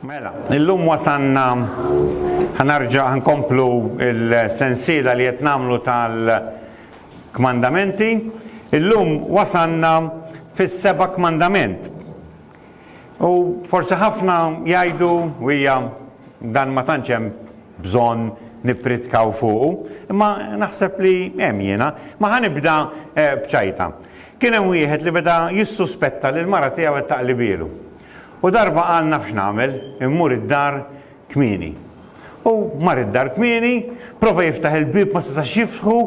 Mela, illum wasanna ħanarġa ħankomplu il-sensila li qed nagħmlu tal-kmandamenti. Illum wasanna fis-seba' kmandament. U forsi ħafna jgħidu u hija dan ma tantx hemm bżonn nippritkaw fuq, imma naħseb li hemm jiena. Ma ħanibda eh, bċajta. Kien hemm wieħed li beda jissuspetta li l-mara tiegħu qed taqlibielu. U darba qal naf x'nagħmel, immur id-dar kmieni. U mar id-dar kmieni, prova jiftaħ il-bieb ma setax jiftħu,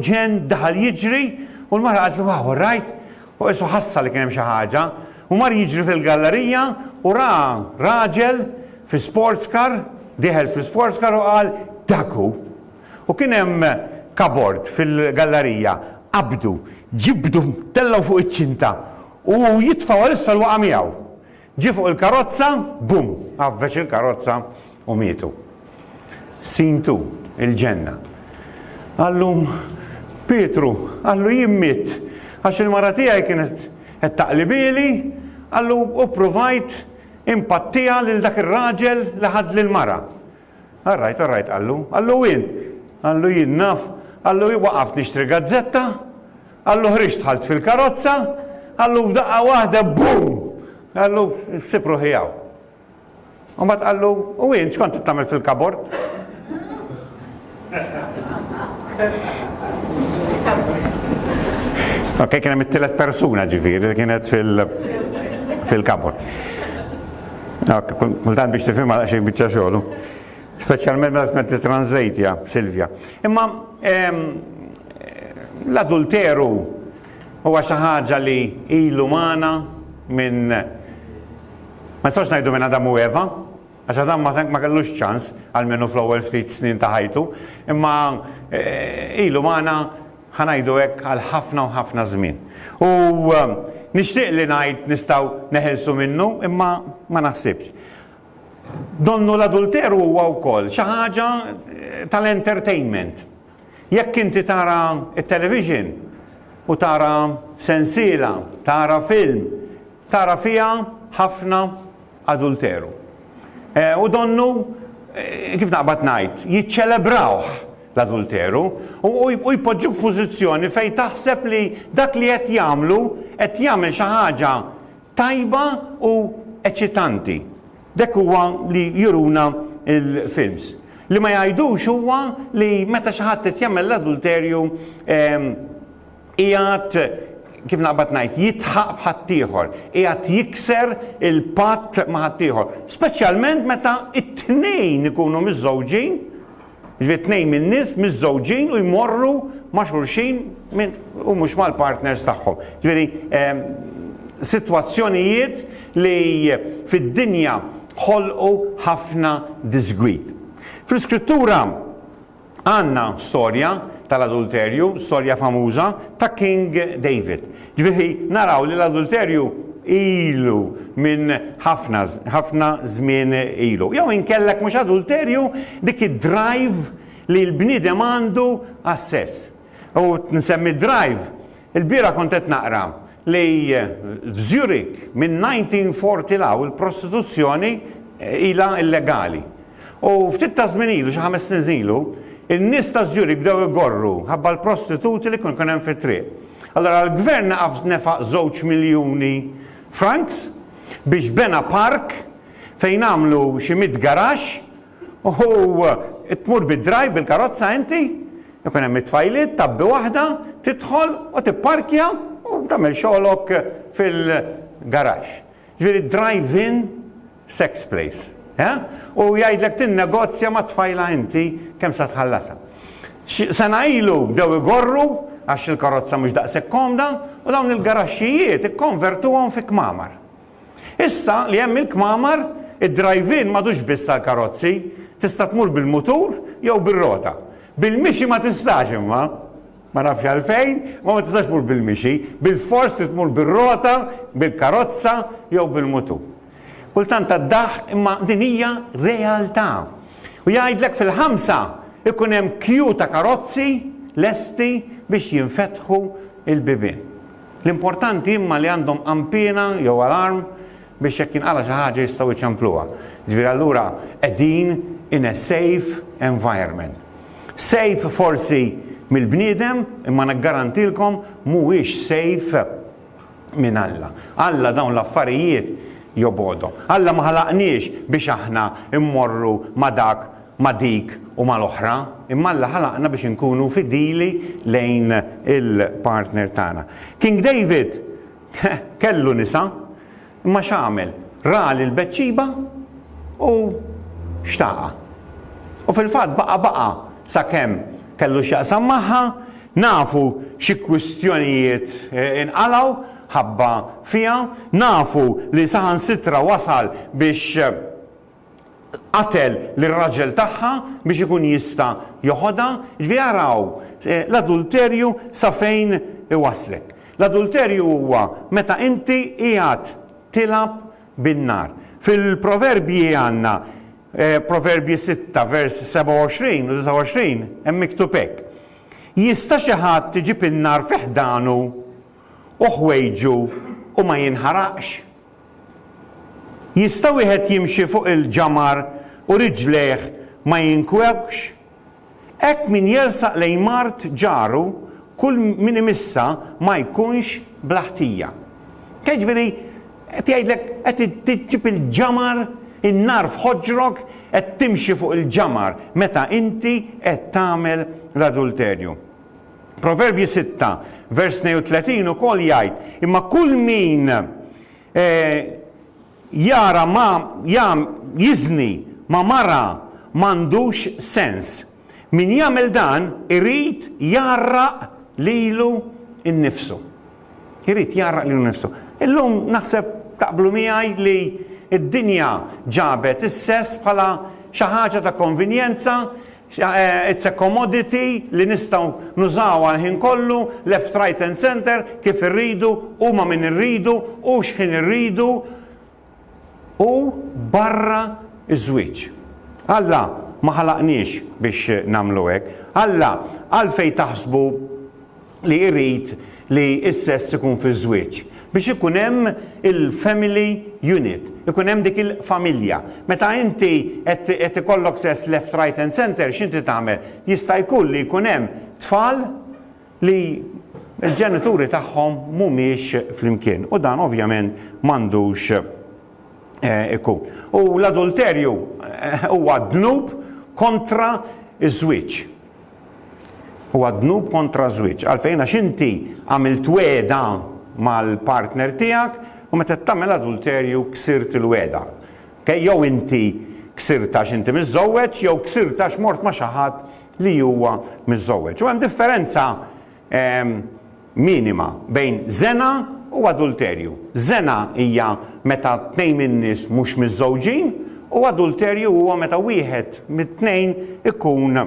ġenn daħal jiġri u l-mara qaltlu wow, all right? U qisu ħassa li kien hemm xi ħaġa u mar jiġri fil-gallerija u ra raġel fi sports car, dieħel fl-sports car u qal dak hu. U kien hemm kabord fil-gallarija, qabdu, ġibdu, tellgħu fuq iċ-ċinta u jitfgħu għal isfel waqa' miegħu. Ġie fuq il-karozza, bum, għaffeġ il-karozza u mietu. Scene two, il-ġenna. Qallu Pietru, qallu jien mitt għax il-mara tiegħi kienet qed taqlibieli, qallu u ppruvajt inpattiha lil dak ir-raġel li ħadli l-mara. All right, all right, qallu. Qallu int? Qallu jien naf. Qallu hi waqaft nixtri gazzetta. Qallu ħriġt dħalt fil-karozza. Qallu f'daqqa waħda boom! Qallu sib ruħi hawn. Imbagħad qallu u int x'kont tagħmel fil-kabord? Ok, kien hemm it-tielet persuna ġifieri li kienet fil- fil-kabor. Ok, kultant biex tifhimha għal xejn biċċa xogħlu. Speċjalment meta tkun qed translate Silvia. Imma ehm, l-adulteru huwa xi ħaġa li ilu magħna minn ma nistax ngħidu minn Adam u Eva, Għax Adam ma kellux ċans, almenu fl-ewwel ftit snin ta' ħajtu, imma ilu magħna ħa ngħidu hekk għal ħafna u ħafna żmien. U nixtieq li ngħid nistgħu neħilsu minnu, imma ma naħsibx. Donnu l-adulteru huwa wkoll xi ħaġa tal-entertainment. Jekk inti tara t-television u tara sensiela, tara film, tara fiha ħafna adulteru. E, u donnu, e, kif naqbad ngħid, jiċċelebrawh l-adulteru u jpoġġuk f'pożizzjoni fejn taħseb li dak li qed jagħmlu qed jagħmel xi ħaġa tajba u eċitanti. Dek huwa li juruna il-films. Li ma jgħidux huwa li meta xi ħadd qed jagħmel l-adulterju ehm, qiegħed kif naqbad ngħid jitħaq b'ħaddieħor, qiegħed jikser il-patt ma' ħaddieħor, speċjalment meta t-tnejn ikunu miżżewġin, ġifieri tnejn min-nies miżżewġin u jmorru ma' xulxin u mhux mal-partners tagħhom. Ġifieri ehm, sitwazzjonijiet li fid-dinja ħolqu ħafna disgwid. Fl-iskrittura Għandna storja tal-adulterju, storja famuża ta' King David. Ġifieri naraw li l-adulterju ilu minn ħafna ħafna żmien ilu. Jew inkella jekk mhux adulterju dik id-drive li l-bniedem għandu għas-sess. U nsemmi d-drive Il-bieraħ kont qed naqra li f'Zurich minn 1940 law il-prostituzzjoni ilha illegali. U ftit ta' żmien ilu, xi ħames snin ilu, in-nies ta' Zurich bdew igorru ħabba l-prostituti li kien hemm fit-triq. Allora l-gvern naqaf nefaq żewġ miljuni franks biex bena park fejn għamlu xi mitt garaxx U tmur bid-drive bil-karozza inti, ikun hemm it-tfajliet, tgħabbi waħda, tidħol u tipparkja u tagħmel xogħlok fil-garaxx. Ġifieri drive-in sex place. Eħ? U jgħidlek tinnegozja mat-tfajla inti kemm se tħallasha. Xi sena ilu bdew igorru għax il-karozza mhux daqshekk komda u dawn il-garaxxijiet ikkonvertuhom fi kmamar. Issa li hemm il-kmamar, id-drive-in m'għadux biss għall-karozzi, tista' tmur bil-mutur jew bir-rota. Bil-mixi ma tistax imma. Ma nafx għalfejn, imma ma tistax tmur bil-mixi, bilfors trid tmur bir-rota, bil-karozza jew bil-mutur. Kultant tad-daħk imma din hija realtà. U jgħidlek fil-ħamsa jkun hemm kju ta' karozzi lesti biex jinfetħu l-bibien. L-importanti imma li għandhom qanpiena jew alarm biex jekk jinqala' xi ħaġa jistgħu jċempluha. Jiġifieri allura qegħdin in a safe environment. Safe forsi mill-bniedem imma niggarantilkom mhuwiex safe minn Alla. Alla dawn l-affarijiet jobgħodhom. Alla ma ħalaqniex biex aħna mmorru ma' dak ma' dik u mal-oħra, imma Alla ħalaqna biex inkunu fidili lejn il-partner tagħna. King David kellu nisa, imma x'għamel? Ra lil Betxiba u xtaqha. U fil-fatt baqa' baqa' sakemm kellu x'jaqsam magħha, nafu xi kwistjonijiet inqalgħu ħabba fiha, nafu li saħansitra wasal biex qatel lir-raġel tagħha biex ikun jista' joħodha, jiġifieri araw l-adulterju sa fejn iwasslek. L-adulterju huwa meta inti qiegħed tilgħab bin-nar. Fil-Proverbji għandna, Proverbji sitta vers 27 u 29, hemm miktub hekk, Jista' xi ħadd iġib in-nar fi ħdanu u ħwejġu u ma jinħaraqx? Jista' wieħed jimxi fuq il-ġamar u riġlejh ma jinkwewx? Hekk min jersaq lejn mard ġaru, kull min imissha ma jkunx bla ħtija. Dak jiġifieri qed jgħidlek qed iġġib il-ġamar, in-nar f'ħoġrok, qed timxi fuq il-ġamar meta inti qed tagħmel l-adulterju. Proverbji 6, vers 32 ukoll jgħid, imma kull min eh, jara ma jam jiżni ma mara m'għandux sens. Min jagħmel dan irid jarraq lilu nnifsu. Irid jarraq lilu nnifsu. Illum naħseb taqblu miegħi li id-dinja ġabet is-sess bħala xi ħaġa ta' konvenjenza It's a commodity li nistgħu nużawha l-ħin kollu, left right and centre, kif irridu u ma' min irridu u x'ħin irridu u barra ż-żwieġ. Alla ma ħalaqniex biex nagħmlu hekk. Alla għalfejn taħsbu li jrid li s-sess ikun fiż-żwieġ biex ikun hemm il-family unit, ikun hemm dik il-familja. Meta inti qed ikollok sess left, right and centre x'inti tagħmel? Jista' jkun li jkun hemm tfal li l-ġenituri tagħhom mhumiex flimkien u dan ovvjament m'għandux ikun. U l-adulterju huwa dnub kontra ż-żwieġ. Huwa dnub kontra ż-żwieġ. Għalfejn? Għax inti għamilt wegħda mal-partner tiegħek u meta qed tagħmel adulterju ksirt il-wegħda. Okej? Jew inti ksirtha għax inti miżżewweġ jew ksirtha għax mort ma' xi ħadd li huwa miżżewweġ. U hemm differenza minima bejn żena u adulterju. Żena hija meta tnejn min-nies mhux miżżewġin u adulterju huwa meta wieħed mit-tnejn ikun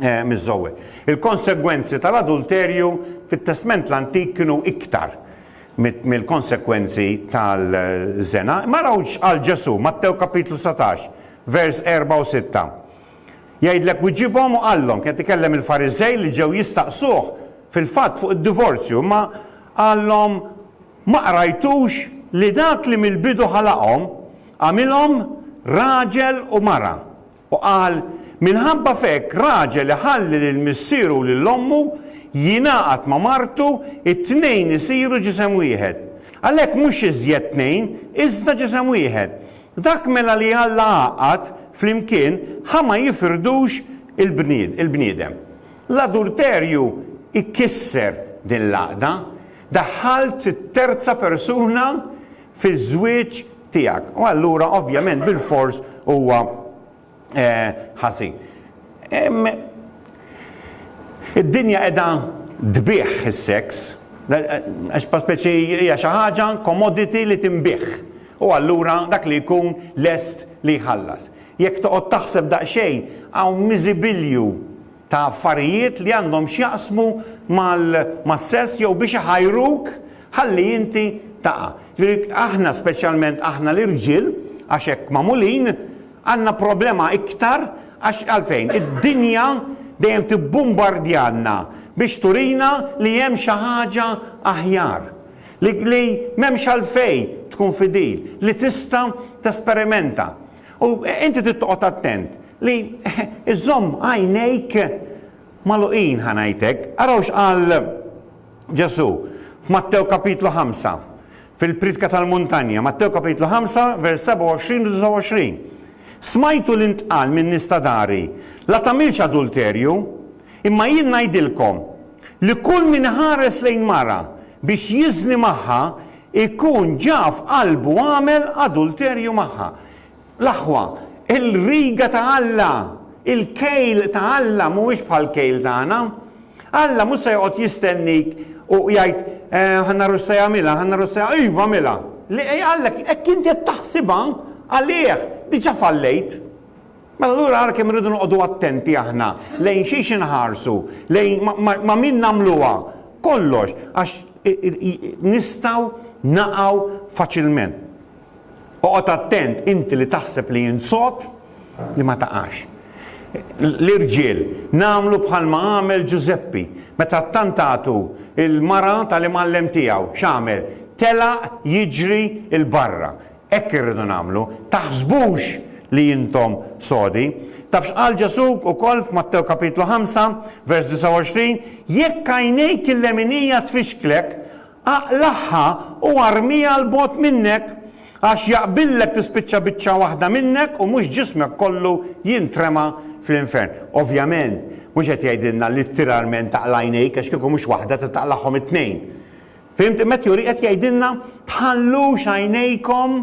miżżewweġ. Il-konsegwenzi tal-adulterju fit-Testment l-Antik kienu iktar mill-konsegwenzi tal-żena. Imma araw x'qal Ġesù, Mattew kapitlu satax, vers erba' u sitta. Jgħidlek u ġibhom u qallhom, kien qed ikellem il-Fariżej li ġew jistaqsuh fil-fatt fuq id-divorzju, imma qallhom, Ma qrajtux li dak li mill-bidu ħalaqhom, għamilhom raġel u mara, u qal, Minħabba f'hekk raġel iħalli lil missieru u lil ommu, jingħaqad ma' martu, it-tnejn isiru ġisem wieħed. Għalhekk mhux iżjed tnejn, iżda ġisem wieħed. Dak mela li Alla għaqqad flimkien, ħa ma jifrdux il-bniedem. L-adulterju jkisser din l-għaqda. Daħħalt terza persuna fiż-żwieġ tiegħek u allura ovvjament bilfors huwa eh, ħażin. Id-dinja qiegħda tbih is-seks, għax speċi hija xi ħaġa commodity li tinbih. U allura dak li jkun lest li jħallas. Jekk toqgħod taħseb daqsxejn hawn miżibilju ta' affarijiet li għandhom x'jaqsmu mas-sess jew biex iħajruk ħalli inti taqa'. Jiġifieri aħna speċjalment aħna l-irġiel għax hekk magħmulin għandna problema iktar għax għalfejn? Id-dinja dejjem tibbumbardjalna biex turina li hemm xi ħaġa aħjar, li m'hemmx għalfejn tkun fidil, li tista' tesperimenta. U inti trid toqgħod attent li iżomm għajnejk magħluqin ħa ngħidlek. Araw x'qal Ġesù f'Mattew kapitlu 5 fil-Pritka tal-Muntanja, Mattew kapitlu 5 vers 27 u 29. Smajtu li ntqal minn nista dari, la tagħmilx adulterju, imma jien ngħidilkom li kull min iħares lejn mara biex jiżni magħha Ikun ġa f'qalbu għamel adulterju magħha. L-aħwa, il-riga ta' Alla, il-kejl ta' Alla mhuwiex bħall-kejl tagħna. Alla mhux se joqgħod jistennik u jgħid, Ħa naraw x'se jagħmilha, ħa naraw x'se, iva għamilha! Le, Alla, hekk inti qed taħsibha għalih, diġà fallejt. Mela allura ara kemm irridu noqogħdu attenti aħna lejn xiex inħarsu, lejn ma' min nagħmluha, kollox, għax nistgħu naqgħu faċilment. Oqgħod attent inti li taħseb li int sod li ma taqax. L-irġiel, nagħmlu bħalma għamel Ġużeppi, meta ttantatu l-mara tal-imgħallem tiegħu, x'għamel? Telaq jiġri 'l barra. Hekk irridu nagħmlu. Taħsbux li intom sodi. Taf x'qal Ġesù wkoll f'Mattew Kapitlu ħamsa, vers 29, Jekk għajnejk il-leminija tfixklek, aqlagħha u armiha 'l bogħod minnek, għax jaqbillek tispiċċa biċċa waħda minnek u mhux ġismek kollu jintrema fl-infern. Ovvjament, mhux qed jgħidilna littiralment aqla' għajnejk għax kieku mhux waħda trid taqlagħhom it-tnejn. Fhimtu? Matthew Henry qed jgħidilna tħallux għajnejkom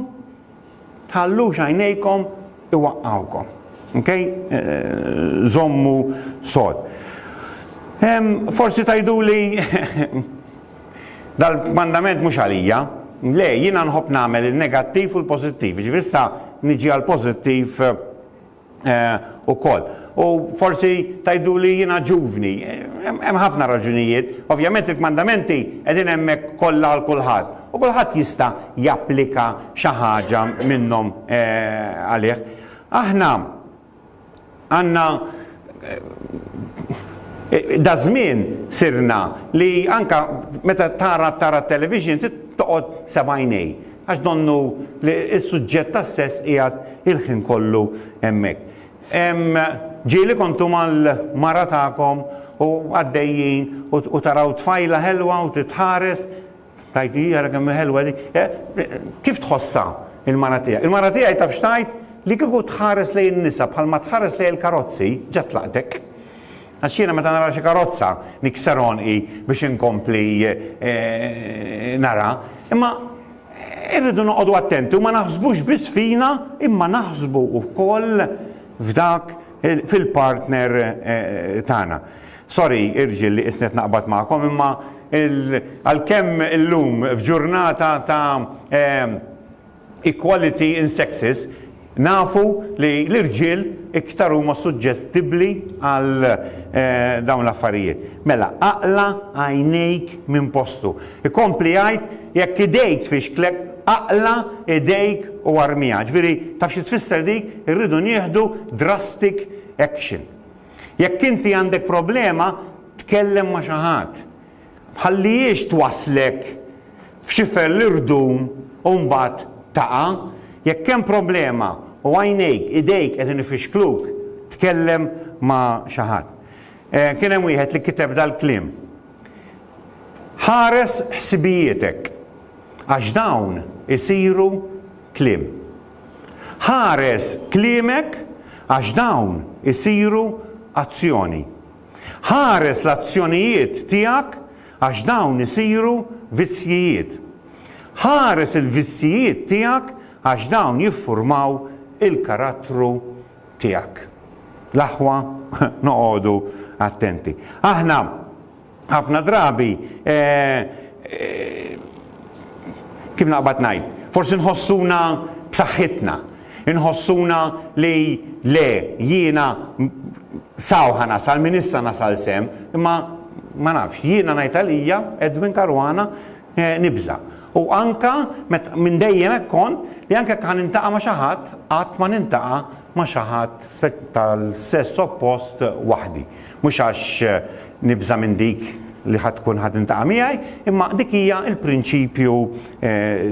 tħallux għajnejkom iwaqqawkom. Okay? Żommu eh, eh, sod. Forsi tajdu li dal-mandament mhux għalija, le jiena nħobb nagħmel il-negattiv u l-pożittiv. Ġifieri niġi għal pożittiv eh, ukoll. U forsi tgħidu li jiena ġuvni. Hemm ħafna raġunijiet. Ovvjament il-kmandamenti qegħdin hemmhekk kollha għal kulħadd u kulħadd jista' japplika xi ħaġa minnhom għalih. Aħna għandna daż-żmien sirna li anke meta tara tara t-television toqgħod sebgħajnej. Għax donnu li s-suġġett tas-sess qiegħed il-ħin kollu hemmhekk. Ġieli kontu mal-mara tagħkom u għaddejjin u taraw tfajla ħelwa u titħares, tajt hi ara kemm ħelwa di. Eh, kif tħossha il-mara tiegħek? Il-mara tiegħi taf xtajt li kieku tħares lejn nisa bħalma tħares lejn il-karozzi ġat tlaqtek. Għax jiena meta nara xi karozza nikser għonqi biex inkompli nara. Imma irridu noqogħdu attenti u ma naħsbux biss fina imma naħsbu wkoll f'dak fil-partner tagħna. Sorry irġiel li qisni qed naqbad magħkom imma għalkemm illum f'ġurnata ta' equality in sexes, nafu li l-irġiel iktar huma suġġettibbli għal dawn l-affarijiet. Mela, aqla' għajnejk minn postu. Ikompli jgħid, jekk idejk tfixklek, aqla' idejk u armiha. Ġifieri, taf xi tfisser dik? Irridu nieħdu drastic action. Jekk inti għandek problema, tkellem ma' xi ħadd. Tħallihiex twasslek f'xifer l-irdum u mbagħad taqa'. Jekk hemm problema u għajnejk, idejk qegħdin ifixkluk, tkellem ma' xi ħadd. Kien hemm wieħed li kiteb dal-kliem, Ħares ħsibijietek, għax dawn isiru kliem. Ħares kliemek għax dawn isiru azzjoni. Ħares l-azzjonijiet tiegħek għax dawn isiru vizzjijiet. Ħares il-vizzjijiet tiegħek għax dawn jiffurmaw il-karattru tiegħek. L-aħwa noqogħdu attenti. Aħna ħafna drabi eh, eh, Kif naqbad ngħid, forsi nħossuna b'saħħitna, inħossuna li le, jiena saw ħa nasal, minn issa nasal sehem, imma ma nafx, jiena ngħid għalija, Edwin Caruana, nibża'. U anke minn dejjem hekk kont li anke jekk ħa nintaqa' ma' xi ħadd, qatt ma nintaqa' ma' xi ħadd tal-sess oppost waħdi. Mhux għax nibża' minn dik li ħa tkun ħa tintaqa' miegħi, imma dik hija l-prinċipju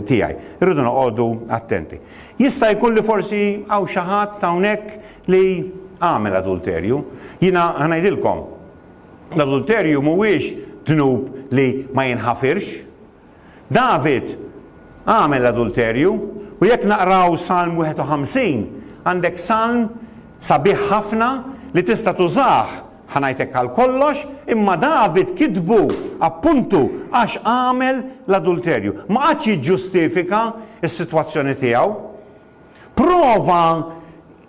tiegħi. Irridu noqogħdu attenti. Jista' jkun li forsi hawn xi ħadd hawnhekk li għamel adulterju. Jiena ħa ngħidilkom, l-adulterju mhuwiex dnub li ma jinħafirx. David għamel l-adulterju u jekk naqraw Salm 51 għandek salm sabiħ ħafna li tista' tużah, ħa ngħid hekk għal kollox, imma David kitbu appuntu għax għamel l-adulterju. Ma qagħadx jiġġustifika s-sitwazzjoni tiegħu. Prova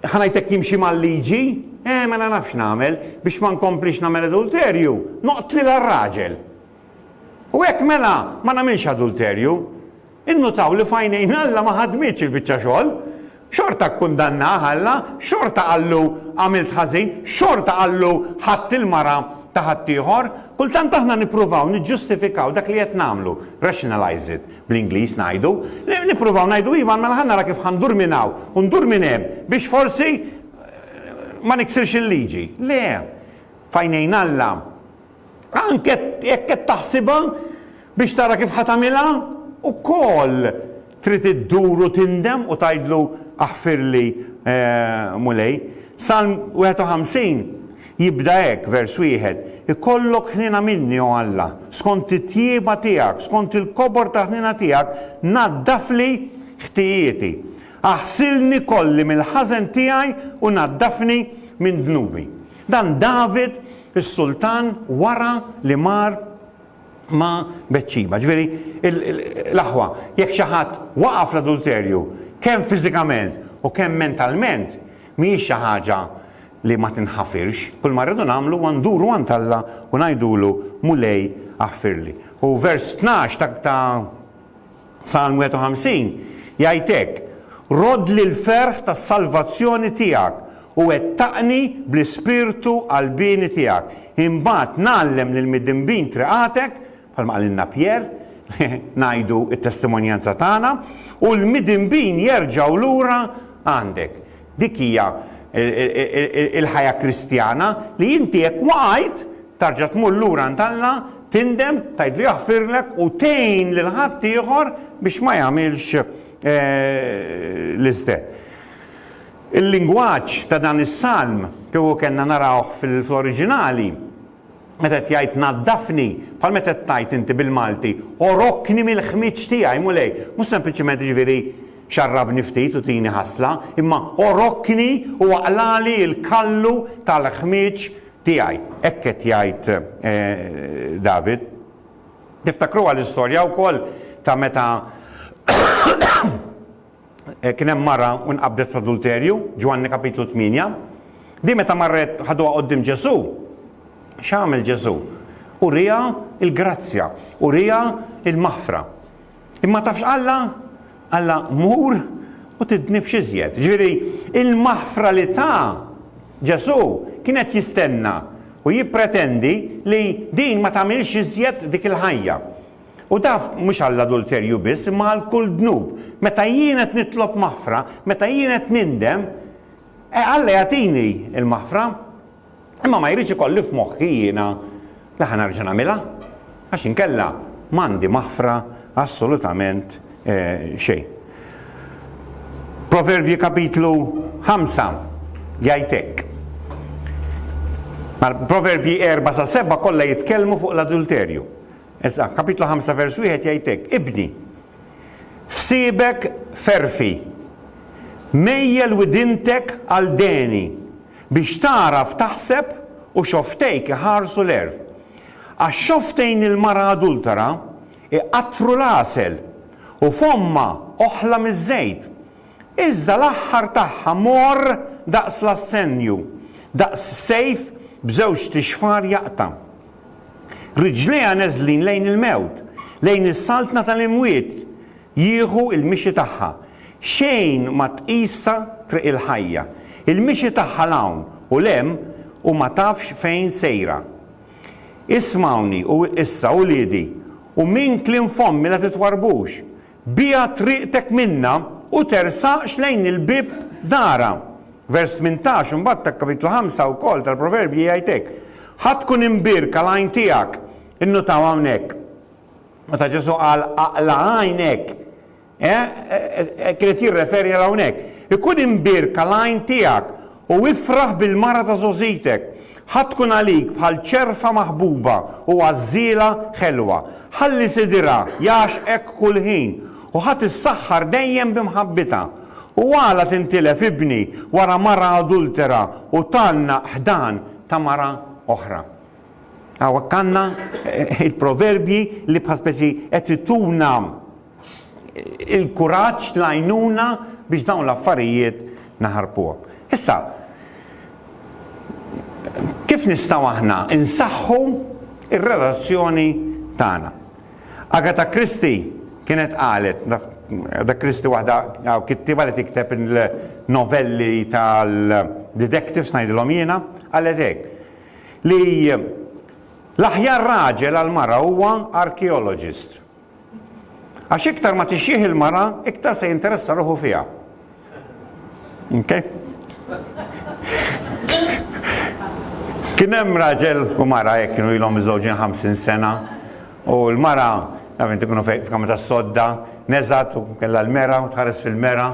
ħa ngħid hekk jimxi mal-liġi, eh mela nafx nagħmel biex ma nkomplix nagħmel adulterju, noqtli l-raġel. U hekk mela ma nagħmilx adulterju. Innutaw li f'għajnejn Alla ma ħadmitx il-biċċa xogħol. Xorta kkundannah Alla, xorta qallu għamilt ħażin, xorta qallu ħadt il-mara ta' ħaddieħor. Kultant aħna nippruvaw niġġustifikaw dak li qed nagħmlu, rationalize it, bl-Ingliż ngħidu. Nippruvaw ngħidu iva mela ħa nara kif ħa ndur minn hawn u ndur minn hemm biex forsi ma niksirx il-liġi. Le, f'għajnejn Alla Anke jekk qed taħsibha biex tara kif ħa tagħmilha, ukoll trid iddur u tindem u tgħidlu, Aħfirli, Mulej. Salm 51 jibda hekk, vers wieħed, Ikollok ħniena minni, o Alla, skont it-tjieba tiegħek, skont il-kobor ta' ħniena tiegħek naddafli ħtijieti. Aħsilni kolli mill-ħażen tiegħi u naddafni minn dnubi. Dan David, is-sultan, wara li mar ma' Betxiba. Ġifieri, l-aħwa, jekk xi ħadd waqa' fl-adulterju, kemm fiżikament u kemm mentalment, mhijiex xi ħaġa li ma tinħafirx. Kull ma rridu nagħmlu huwa nduru għand Alla u ngħidulu, Mulej, aħfirli. U vers tnax ta' Salm 51 jgħid hekk, Roddli l-ferħ tas-salvazzjoni tiegħek, u wettaqni bl-ispirtu qalbieni tiegħek. Imbagħad ngħallem lill-midinbin triqatek, bħalma qalilna Pier, ngħidu t-testimonjanza tagħna, u l-midinbin jerġgħu lura għandek. Dik hija l-ħajja Kristjana li inti jekk waqajt tarġa' tmur lura għand Alla, tindem, tgħidlu jaħfirlek u tgħin lil ħaddieħor biex ma jagħmilx l-iste. Il-lingwaġġ ta' dan is-salm, kieku kellna narawh fl-oriġinali, Meta qed jgħid naddafni, bħal meta qed tgħid inti bil-Malti, għorokni mill-ħmieġ tiegħi, Mulej, mhux sempliċement jiġifieri xarrabni ftit u tini ħasla, imma għorokni u aqlagħli l-kallu tal-ħmieġ tiegħi. Hekk qed jgħid David. Tiftakruha l-istorja wkoll ta' meta Kien hemm mara u nqabdet fl-adulterju, Ġwanni kapitlu 8. Din meta marret ħaduha quddiem Ġesù, x'għamel Ġesù? Uriha l-grazzja, uriha l-maħfra. Imma taf x'qallha? Qallha mur u tidnibx iżjed. Ġifieri, il-maħfra li ta Ġesù kienet jistenna u jippretendi li din ma tagħmilx iżjed dik il-ħajja. U taf, mhux għall-adulterju biss, imma għal kull dnub. Meta jien qed nitlob maħfra, meta jien qed nindem, eh, Alla jagħtini l-maħfra, imma ma jridx ikolli f'moħħi jiena li ħa nerġa' nagħmilha, għax inkella m'għandi maħfra assolutament eh, xejn. Proverbji kapitlu 5 jgħid hekk. Proverbji 4 sa 7 kollha jitkellmu fuq l-adulterju. Eż. Kapitlu 5 vers 1 jgħid hekk, Ibni, ħsiebek f'għerfi, mejjel widintek għal deni, biex tagħraf taħseb u xofftejk iħarsu l-għerf. Għax xofftejn il-mara adultera iqattru l-għasel, u fommha oħla miż-żejt. Iżda l-aħħar tagħha morr daqs l-assennju, daqs sejf b'żewġt ixfar jaqta'. Riġlejha neżlin lejn il-mewt, lejn is-saltna tal-imwiet jieħu l-mixi tagħha. Xejn ma tqisha triq il-ħajja. Il-mixi tagħha 'l hawn u 'l hemm u ma tafx fejn sejra. Ismgħuni issa, uliedi, u minn kliem fommi la titwarrbux. Biegħ triqtek minnha u tersaqx lejn il-bieb darha. Vers 18 imbagħad ta' Kapitlu 5 wkoll tal-Proverbji jgħid hekk, Ħa tkun imbierka l-għajn tiegħek. Innutaw hawnhekk, meta Ġesù qal aqla' għajnek, qed jirreferi għal hawnhekk. Ikun imbierka l-għajn tiegħek U ifraħ bil-mara ta' żgħożitek. Ħa tkun għalik bħal ċerfa maħbuba u għażżiela ħelwa. Ħalli sidirha jagħxqek kull ħin, u ħa tissaħħar dejjem bi mħabbitha. U għala tintilef ibni wara mara adultera u tgħannaq ħdan ta' mara oħra? Hawnhekk għandna il-proverbji li bħal speċi qed ituna il-kuraġġ, l-għajnuna biex dawn l-affarijiet naħarbuhom. Issa, kif nistgħu aħna insaħħu r relazzjoni tagħna? Agatha Christie kienet qalet, Agatha Christie waħda kittiba li tikteb il-novelli tal-detectives ngħidilhom jiena, qalet hekk li l-aħjar raġel għal mara huwa archaeologist. Għax iktar ma tixjih il-mara, iktar se jinteressa ruħu fiha. Okay? Kien hemm raġel u mara jekk kienu ilhom iżewġin 50 sena u l-mara nafin ikunu f'kamra tas-sodda, neżat u kellha l-mera u tħares fil-mera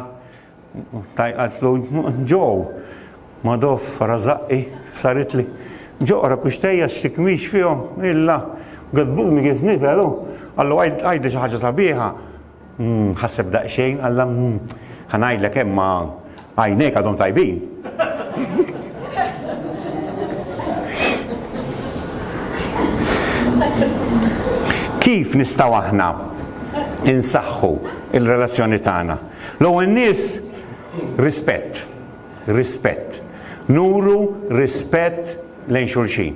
Tajqat lu, Ġoo, Madoff rażaqi f'saritli. Ġoo, ara kuxtejja x'tikmix fihom, illa. Għedbun li kif niżel hu, qallu għidli xi ħaġa sabiħa. Ħaseb daqsxejn, qalla, Ħa ngħidlek hemm ma għajnejk għadhom tajbin. Kif nistgħu aħna insaħħu l-relazzjoni tagħna? L-ewwel nies, rispett. Rispett. Nuru rispett lejn xulxin.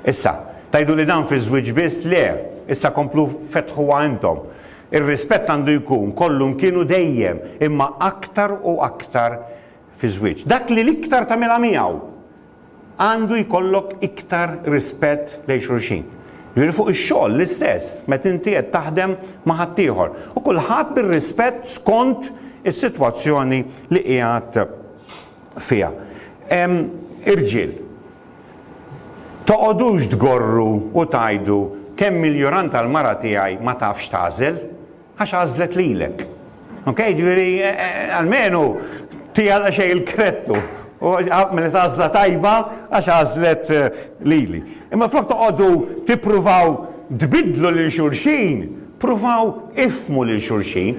Issa, tgħidu li dan fiż-żwieġ biss, le, issa komplu fettħuha intom. Ir-rispett għandu jkun kollu mkien u dejjem, imma aktar u aktar fiż-żwieġ. Dak li l-iktar tagħmilha miegħu. Għandu jkollok iktar rispett lejn xulxin. Jiġifieri fuq ix-xogħol l-istess, meta inti qed taħdem ma' ħaddieħor. U kulħadd bir-rispett skont is-sitwazzjoni li qiegħed fiha. Irġiel, toqgħodux tgorru u tgħidu kemm il-juranta l-mara tiegħi ma tafx tagħżel. Għax għażlet lilek. Ok, ġifieri almenu tija xejn il-krettu. U għamilet għażla tajba għax għażlet lili. Imma flok toqgħodu tippruvaw tbiddlu lil xulxin, pruvaw ifhmu lil xulxin.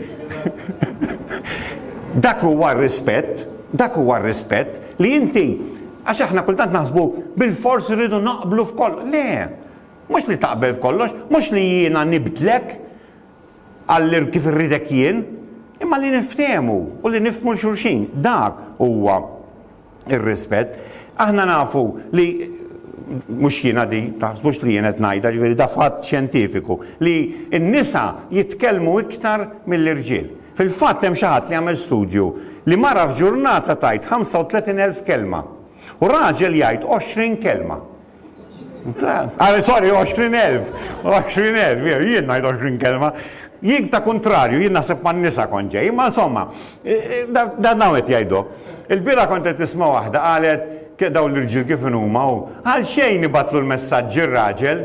Dak huwa r-rispett, dak huwa r-rispett li inti għax aħna kultant naħsbu bil-fors irridu naqblu f'kollox. Le, mhux li taqbel f'kollox, mhux li jiena nibdlek, għal kif irridek jien, imma li niftehmu u li nifhmu 'l xulxin. Dak huwa r-rispett. Aħna nafu li mhux jiena di, taħsbux li jien qed ngħidha, ġifieri da fatt xjentifiku, li n-nisa jitkellmu iktar mill-irġiel. Fil-fatt hemm xi ħadd li għamel studju li mara f'ġurnata tgħid 35,000 kelma u raġel jgħid 20 kelma. Ah, sorry, 20,000. 20,000, jew jien ngħid 20 kelma. Jien ta' kontrarju, jien naħseb ma' nisa kont ġej, imma insomma, dan hawn qed jgħidu. Il-bira kont qed nisma' waħda qalet dawn l-irġiel kif inhuma u għal xejn ibatlu l-messaġġi r-raġel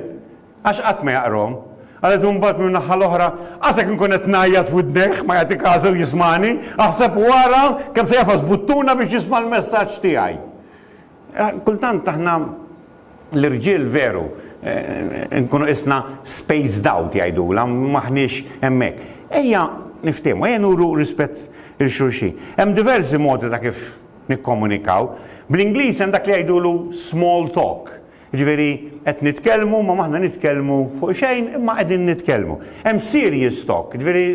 għax qatt ma jaqrom. Għalet mbagħad minn naħa l-oħra, għasek nkun qed ngħajjat f'widnejh ma jagħti każu jismani, aħseb wara kemm se jafas buttuna biex jisma' l-messaġġ tiegħi. Kultant aħna l-irġiel veru nkunu isna spaced out jgħidulha, m'aħniex hemmhekk. Ejja niftiehmu, ejja nuru rispett lil xulxin. Hemm diversi modi ta' kif nikkomunikaw. Bl-Ingliż hemm dak li jgħidulu small talk, jiġifieri qed nitkellmu imma m'aħna nitkellmu fuq xejn imma qegħdin nitkellmu. Hemm serious talk, jiġifieri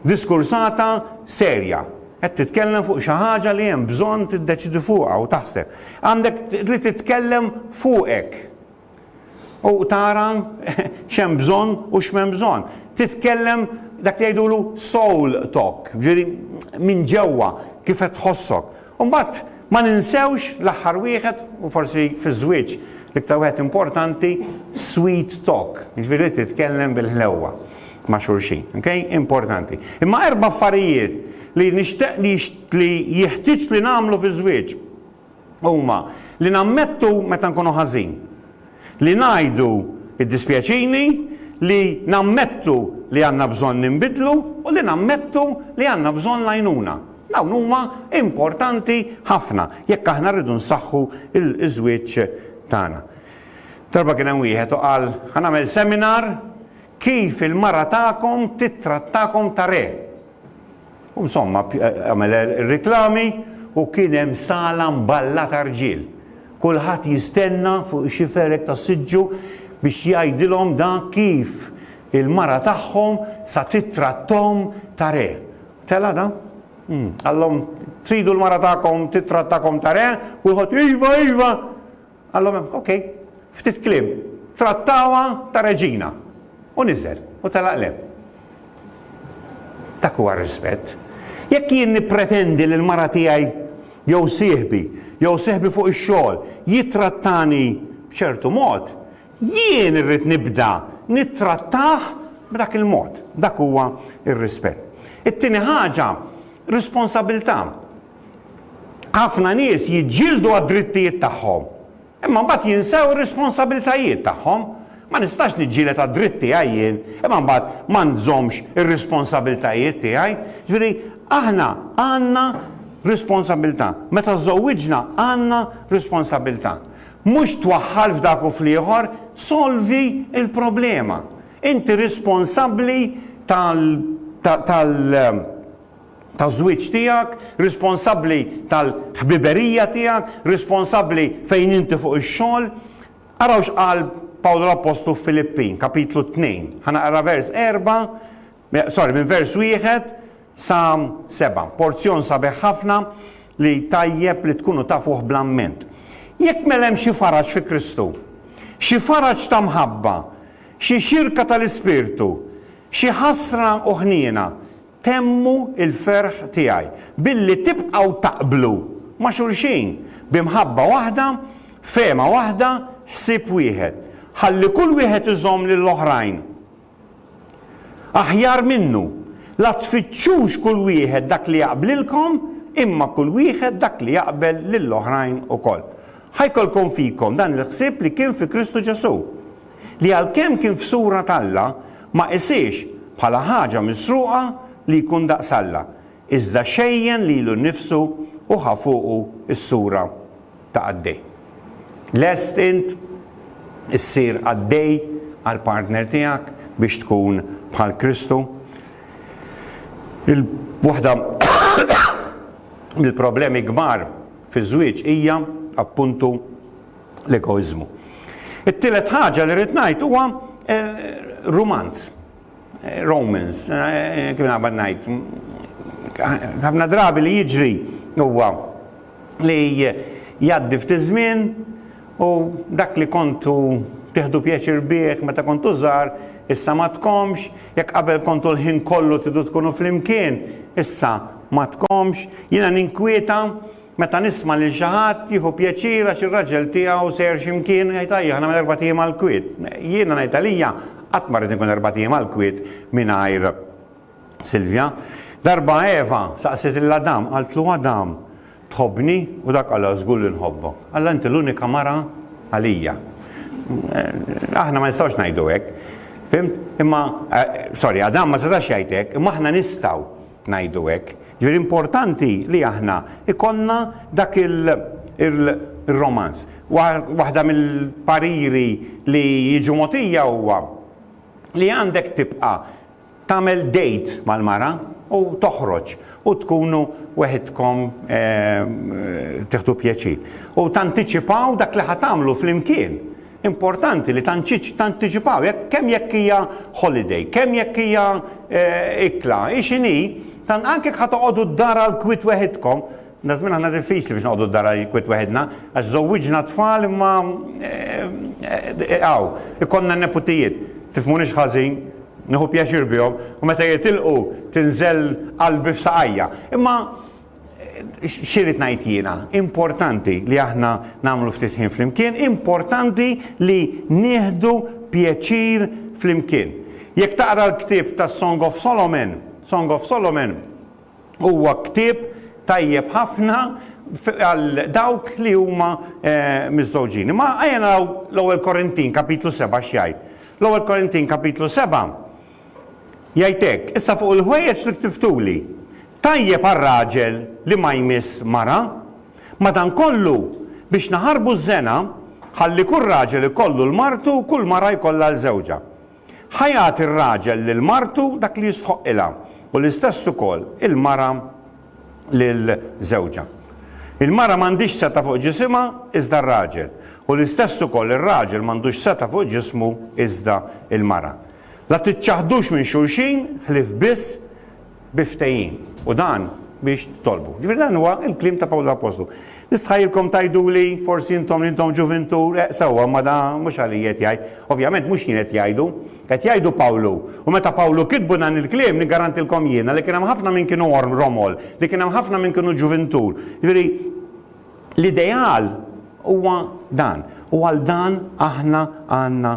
diskursata serja. Qed titkellem fuq xi ħaġa li hemm bżonn tiddeċidi fuqha u taħseb. Għandek li titkellem fuqek. U tara x'hemm bżonn u x'm'hemm bżonn. Titkellem dak li jgħidulu soul talk, ġieli minn ġewwa kif qed tħossok. U mbagħad ma ninsewx l-aħħar wieħed u forsi fiż-żwieġ l-iktar wieħed importanti, sweet talk, jiġifieri li titkellem bil-ħlewwa ma' xulxin. Okay? Importanti. Imma erba' affarijiet li nixtieq li li jeħtieġ li nagħmlu fiż-żwieġ huma li nammettu meta nkunu ħażin. Li ngħidu iddispjaċini, li nammettu li għandna bżonn ninbidlu u li nammettu li għandna bżonn l-għajnuna. Dawn huma importanti ħafna jekk aħna rridu nsaħħu l-żwieġ tagħna. Darba kien hemm wieħed u qal, Ħa nagħmel seminar Kif il-mara tagħkom tittrattakom ta' re. U insomma għamel ir-riklami u kien hemm sala mballa ta' rġiel. Kulħadd jistenna fuq ix-xiferek tas-siġġu biex jgħidilhom dak kif il-mara tagħhom sa tittratthom ta' re. Tela' da? Qallhom, Tridu l-mara tagħkom tittrattakom ta' re? Kulħadd, Iva, iva! Qalhom hemm, ok, ftit kliem, trattawha ta' reġina. U niżel, u telaq l-hemm. Dak huwa r-rispett. Jekk jien nippretendi li l-mara tiegħi jew sieħbi, jew sieħbi fuq ix-xogħol jittrattani b'ċertu mod, jien irrid nibda nittrattah b'dak il-mod. Dak huwa r-rispett. It-tieni ħaġa, responsabilità. Ħafna nies jiġġieldu għad-drittijiet tagħhom, imma mbagħad jinsew ir-responsabbiltajiet tagħhom. Ma nistax niġġieled għad-dritt tiegħi jien, imma mbagħad ma nżommx ir-responsabbiltajiet tiegħi. Jiġifieri, aħna għandna responsabbiltà. Meta żżewwiġna għandna responsabbiltà. Mhux twaħħal f'dak u fl-ieħor, solvi l-problema. Inti responsabbli tal, tal, tal, taż-żwieġ tiegħek, responsabbli tal-ħbiberija tiegħek, responsabbli fejn inti fuq ix-xogħol. Araw x'qal Pawlu l-Appostlu f'Filippin, kapitlu t-tnejn. Ħa naqra vers erba', eh, sorry, minn vers wieħed sa seba'. Porzjon sabiħ ħafna li tajjeb li tkunu tafuh bl-amment. Jekk mela hemm xi faraġ fi Kristu, xi faraġ ta' mħabba, xi xirka tal-Ispirtu, xi ħasra u ħniena, Temmu l-ferħ tiegħi billi tibqgħu taqblu ma' xulxin bi mħabba waħda, fehma waħda, ħsieb wieħed, ħalli kull wieħed iżomm lill-oħrajn aħjar minnu. La tfittxux kull wieħed dak li jaqblilkom, imma kull wieħed dak li jaqbel lill-oħrajn ukoll. Ħa jkollkom fikom dan il-ħsieb li kien fi Kristu Ġesù. li għalkemm kien f'sura t'Alla, ma qisiex bħala ħaġa misruqa li jkun daqs Alla, iżda xejjen lilu nnifsu u ħa fuqu s-sura ta' qaddej. Lest int issir qaddej għall-partner tiegħek biex tkun bħal Kristu? Waħda mill-problemi kbar fiż-żwieġ hija, appuntu, l-egoiżmu. It-tielet ħaġa li rrid ngħid huwa rumanz. Romans, kif naqbad ngħid. Ħafna drabi li jiġri huwa li jgħaddi ftit żmien u dak li kontu tieħdu pjaċir bih meta kontu żgħar, issa ma tkomx, jekk qabel kontu l-ħin kollu tidu tkunu flimkien, issa ma tkomx, jiena ninkwieta Meta nisma' lil xi ħadd jieħu pjaċir għax ir-raġel tiegħu sejjer xi mkien, jgħid ajja aħna minn erbat ijiem għall-kwiet. Jiena ngħid għalija qatt ma rrid inkun erbat ijiem għall-kwiet mingħajr Silvja. Darba Eva saqsiet lil Adam, qaltlu Adam, tħobbni? U dak qalha żgur li nħobbok. Alla inti l-unika mara għalija. Aħna ma nistgħux ngħidu hekk. Fhimt? Imma sorry, Adam ma setax jgħid hekk, imma aħna nistgħu. ngħidu hekk. Ġifieri importanti li aħna jkollna dak ir-romanz. Waħda mill-pariri li jiġu mogħtija huwa li għandek tibqa' tagħmel date mal-mara u toħroġ u tkunu weħidkom tieħdu pjaċir. U tantiċipaw dak li ħa tagħmlu flimkien. Importanti li tantiċipaw, jekk kemm jekk hija holiday, kemm jekk hija ikla, hi x'inhi, tant anke jekk ħa toqogħdu d-dar għal kwiet weħidkom, dażmien aħna diffiċli biex noqogħdu d-dar għal kwiet weħidna, għax żowwiġna tfal imma hawn, ikollna n-neputijiet, tifhmunix ħażin, nieħu pjaċir bihom u meta jitilqu tinżel qalbi f'saqajja. Imma xirrit ngħid jiena, importanti li aħna nagħmlu ftit ħin flimkien, importanti li nieħdu pjaċir flimkien. Jekk taqra l-ktieb ta' Song of Solomon, Song of Solomon huwa ktieb tajjeb ħafna għal dawk li huma eh, miżżewġin. Ma għajna l-ewwel Korintin kapitlu 7 x'jgħid. L-ewwel Korintin kapitlu 7 Jgħid hekk, Issa fuq il-ħwejjeġ li ktiftuli, tajjeb għal raġel li ma jmiss mara. Madankollu, biex naħarbu ż-żena, ħalli kull raġel ikollu 'l martu u kull mara jkollha 'l żewġha. Ħa jagħti r-raġel lil martu dak li jistħoqqilha, u l-istess ukoll il-mara lil żewġha. Il-mara m'għandhiex setgħa fuq ġisimha, iżda r-raġel, u l-istess ukoll ir-raġel m'għandux setgħa fuq ġismu, iżda l-mara. La tiċċaħħdux minn xulxin ħlief biss bi ftehim, u dan biex titolbu. Ġifieri dan huwa l-kliem ta' Pawlu l-Appostlu. Nistħajilkom tgħiduli forsi intom li intom ġuvintur, eh sewwa ma da mhux għalija qed jgħid. Ovvjament mhux jien qed jgħidu, qed jgħidu Pawlu. U meta Pawlu kitbu dan il-kliem niggarantilkom jiena li kien hemm ħafna minn kienu romol, li kien hemm ħafna minn kienu ġuvintur. Ġifieri L-ideal huwa dan, u għal dan aħna għandna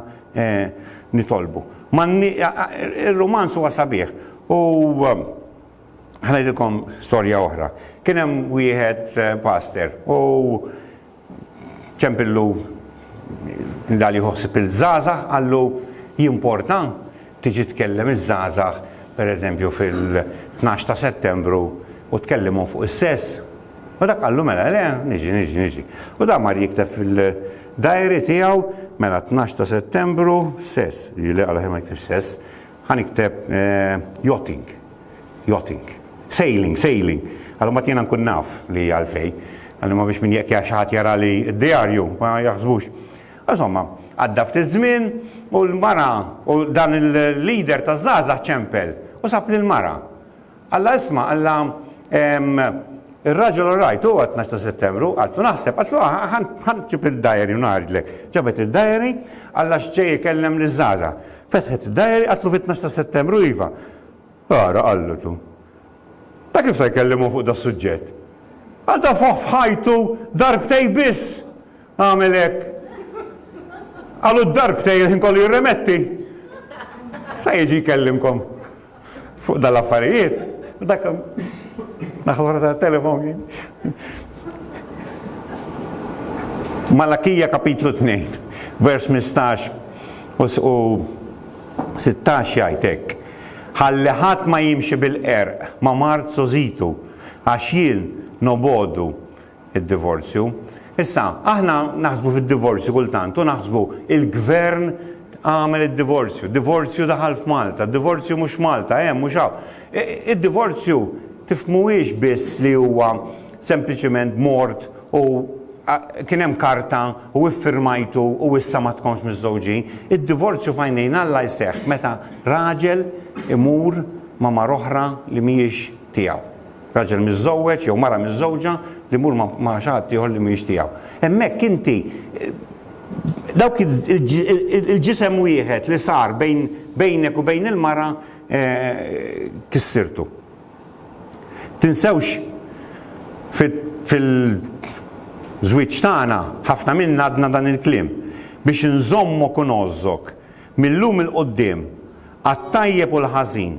nitolbu. Ir-rumanz huwa sabiħ u ħa ngħidilkom storja oħra. Kien hemm wieħed paster u ċempillu nidal jieħu ħsieb il-żgħażagħ qallu jimporta tiġi tkellem iż-żgħażagħ pereżempju fil-tnax ta' Settembru u tkellimhom fuq is-sess? U dak qallu mela le, niġi, niġi, niġi. U dan mar jikteb fil-diary tiegħu mela tnax ta' Settembru, sess, jiġifieri le għaliex ma jiktibx sess, ħa nikteb yachting, yachting, sailing, sailing, għal imbagħad jiena nkun naf li hija għalfej. Għal imma biex min jekk xi ħadd jarali d-diarju ma jaħsbux. Insomma, għadda ftit żmien u l-mara u dan il-leader taż-żgħażagħ ċempel u sab lill-mara. Alla isma' alla ehm ir-raġel all right hu għat-tnax ta' Settembru, qaltlu naħseb, qaltlu ħa nġib id-diary u ngħaridlek. Ġabet id-diary, alla x'ġej ikellem liż-żgħażagħ. Fetħet id-diary, qaltlu fit-tnax ta' Settembru iva. Ara, qallu tu. Ta' kif se jkellimhom hu fuq das-suġġett? Għal darba f'ħajtu darbtej biss għamel hekk. Għal hu d-darbtej il-ħin kollu jirremetti. Se jiġi jkellimkom. Fuq dal-affarijiet, dak naħħa tat-telefon. Malakija kapitlu 2, vers 15 u 16 jgħid hekk. Ħalli ħadd ma jimxi bil-qerq, ma' mard sożitu, għax jien nobodu id-divorzju. Issa, aħna naħsbu fid-divorzju kultant u naħsbu il-gvern għamel id-divorzju, divorzju daħal f'Malta, divorzju mhux Malta, hemm mhux hawn. E, id-divorzju tifmuhiex biss li huwa sempliċiment mort u kien hemm karta u iffirmajtu u issa ma tkomx miżżewġin. Id-divorzju fajnejn Alla jseħħ meta raġel imur ma' mar oħra li mhijiex tiegħu. Raġel miżżewweġ jew mara miżżewġa li jmur ma' xi ħadd ieħor li mhijiex tiegħu. Hemmhekk inti dawk il-ġisem wieħed li sar bejn bejnek u bejn il-mara kissirtu. Tinsewx fil-żwieġ tagħna ħafna minna għadna dan il-kliem biex inżommok u ngħożżok mil-lum 'il quddiem għat-tajjeb u l-ħażin.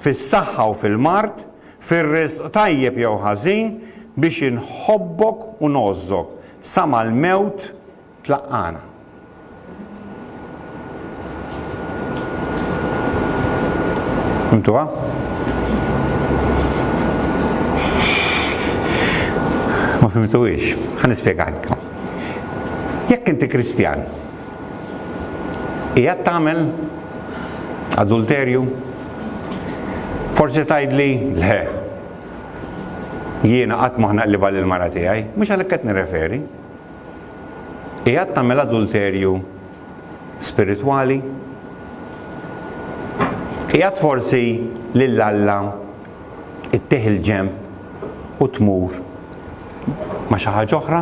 fis-saħħa u fil-mard, fir-riżq tajjeb jew ħażin, biex inħobbok u ngħożżok, sa mal-mewt tlaqqagħna. Fhimtuha? Ma fhimtuhiex? Ħa nispjegalkom. Jekk inti Kristjan, Qiegħed tagħmel adulterju? Forsi tgħidli le. Jiena qatt ma ħnaqlibha lil mara tiegħi, mhux għalhekk qed nirreferi. Qiegħed tagħmel adulterju spiritwali? Qiegħed forsi lil Alla ittih il-ġemp u tmur ma xi ħaġa oħra?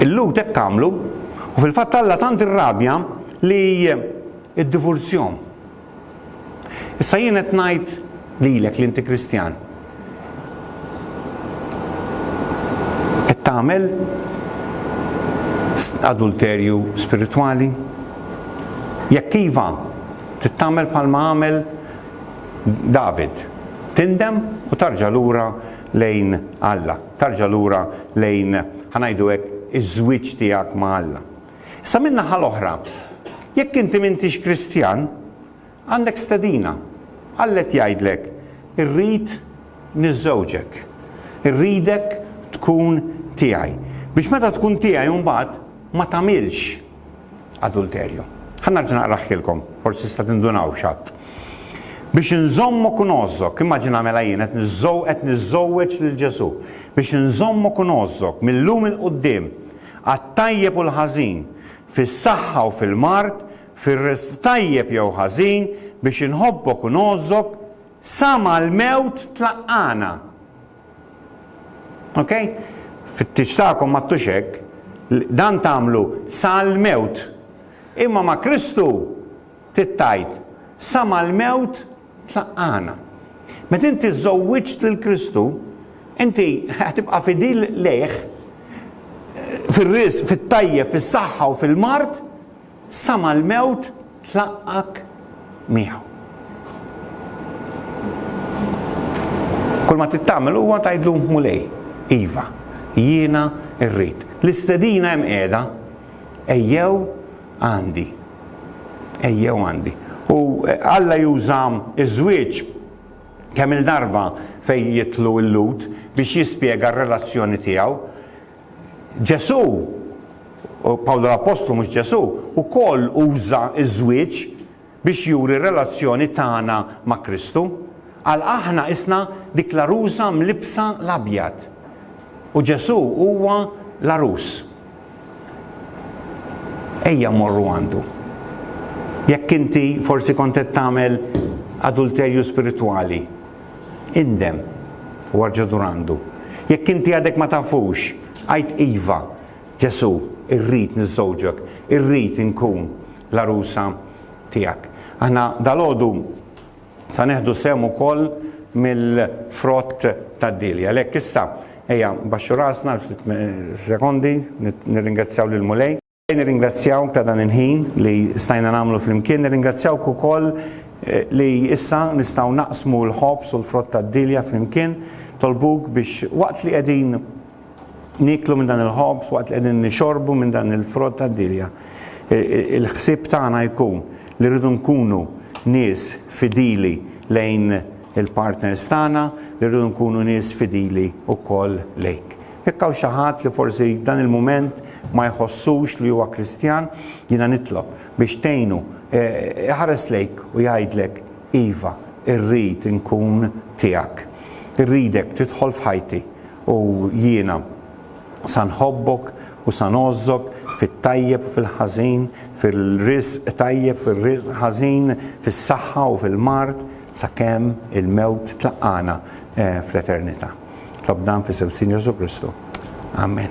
Il-Lhud hekk għamlu, u fil-fatt Alla tant irrabja li iddivurzjom. Issa jien qed ngħid lilek li inti Kristjan. Qed tagħmel adulterju spiritwali? Jekk iva, tittamel bħalma għamel David. Tindem u tarġa' lura lejn Alla. Tarġa' lura lejn, ħa ngħidu hekk, iż-żwieġ tiegħek ma' Alla. Issa min-naħa l-oħra, jekk inti m'intix Kristjan, għandek stedina. Alla qed jgħidlek, Irrid niżżewġek. Irridek tkun tiegħi. Biex meta tkun tiegħi mbagħad ma tagħmilx adulterju. Ħa narġa' naqraħħilkom, forsi tista' tindunaw x'għadd. Biex inżommu knożżok, immaġina mela jien qed niżżow qed niżżowweġ lil Ġesù. Biex inżommu knożżok mil-lum il quddiem għat-tajjeb u l-ħażin, fis-saħħa u fil-mard, fir-risq tajjeb jew ħażin, biex inħobbok u ngħożżok sa mal-mewt tlaqqana. Ok? Fit-tiġ tagħkom ma ttux hekk, dan tagħmlu sal-mewt. Imma ma' Kristu tittajt sa mal-mewt tlaqqana. Meta inti żżowwiġt lil Kristu, inti tibqa' fidil lejh fir-ris, fit-tajjeb, fis-saħħa u fil-mard, Sa mal-mewt tlaqqgħek miegħu. Kull ma trid tagħmel huwa tgħidlu Mulej, iva, jiena rrid. L-istedina hemm qiegħda ejjew għandi. Ejjew għandi. U eh, Alla juża iż-żwieġ kemm il-darba fejn jitlu l-lut biex jispjega r-relazzjoni tiegħu Ġesù, Pawlu l-appostlu mhux Ġesù, ukoll uża ż-żwieġ biex juri r-relazzjoni tagħna ma' Kristu. Għal aħna qisna dik l-għarusa mlibbsa l-abjad. U Ġesù huwa l-għarus. Ejja mmorru għandu. Jekk inti forsi kont qed tagħmel adulterju spiritwali, Indem, u arġa' dur għandu. Jekk inti għadek ma tafux, għid iva, Ġesù, irrid niżżewġek, irrid inkun l-għarusa tiegħek. Aħna dalgħodu sa neħdu sehem ukoll mill-frott tad-dieli. Għalhekk issa ejja baxxu rasna ftit sekondi nirringrazzjaw lill-Mulej. Nirringrazzjawk ta' dan il-ħin li stajna nagħmlu flimkien, nirringrazzjawk ukoll li issa nistgħu naqsmu l-ħobż u l-frott tad-dielja flimkien. Nitolbuk biex waqt li qegħdin nieklu minn dan il-ħobż, waqt li qegħdin nixorbu minn dan il-frott tad-dielja, il-ħsieb tagħna jkun li rridu nkunu nies fidili lejn il-partners tagħna, li rridu nkunu nies fidili wkoll lejk. Jekk hawn xi ħadd li forsi f'dan il-mument ma jħossux li huwa Kristjan, jiena nitlob biex tgħinu iħares lejk u jgħidlek, Iva, irrid inkun tiegħek. Irridek tidħol f'ħajti u jiena sa nħobbok u sa ngħożżok fit-tajjeb u fil-ħażin, fir-riżq tajjeb, fir-riżq ħażin, fis-saħħa u fil-mard, sakemm il-mewt tlaqqagħna fl-eternità. Tlob dan f'isem Sinjur Ġesu Kristu. Amen.